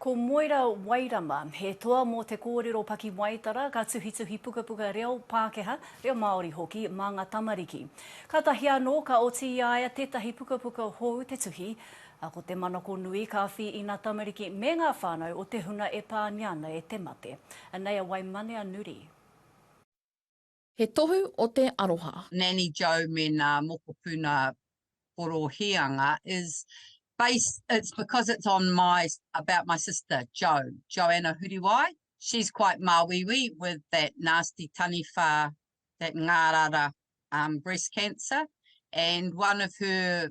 Ko Moira Wairama, he toa mō te kōrero pakiwaitara, ka tuhituhi pukapuka reo Pākehā, reo Māori hoki, mā ngā tamariki. Kātahi anō, ka oti i a ia tētahi pukapuka hou te tuhi, ā, ko te manako nui ka awhi i ngā tamariki me ngā whānau o te hunga e pāngia ana e te mate. Anei a Waimanea Nuri. He tohu o te aroha. Nanny Joe me nā mokopuna Porohianga is based, it's because it's on my, about my sister Joe, Joanna Huriwai, she's quite māuiui with that nasty taniwha, that ngārara um breast cancer and one of her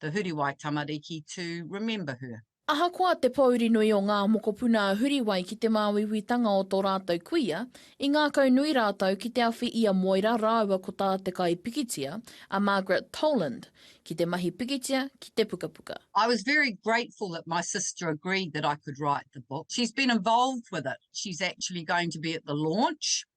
The Huriwai tamariki to remember her. Ahakoa te pōuri nui o ngā mokopuna a Huriwai ki te māuiuitanga o tō rātou kuia, i ngākau nui rātou ki te awhi i a Moira rāua ko tā te kaipikitia, a Margaret Toland, ki te mahi pikitia ki te pukapuka. I was very grateful that my sister agreed that I could write the book. She's been involved with it. She's actually going to be at the launch.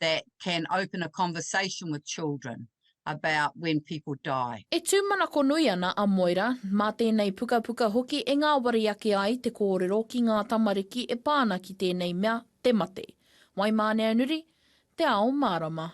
that can open a conversation with children about when people die. E tūmanakonui ana a Moira, mā tēnei pukapuka hoki e ngāwari ake ai te kōrero ki ngā tamariki e pā ana ki tēnei mea, te mate. Waimāneanuri, Te Ao Mārama.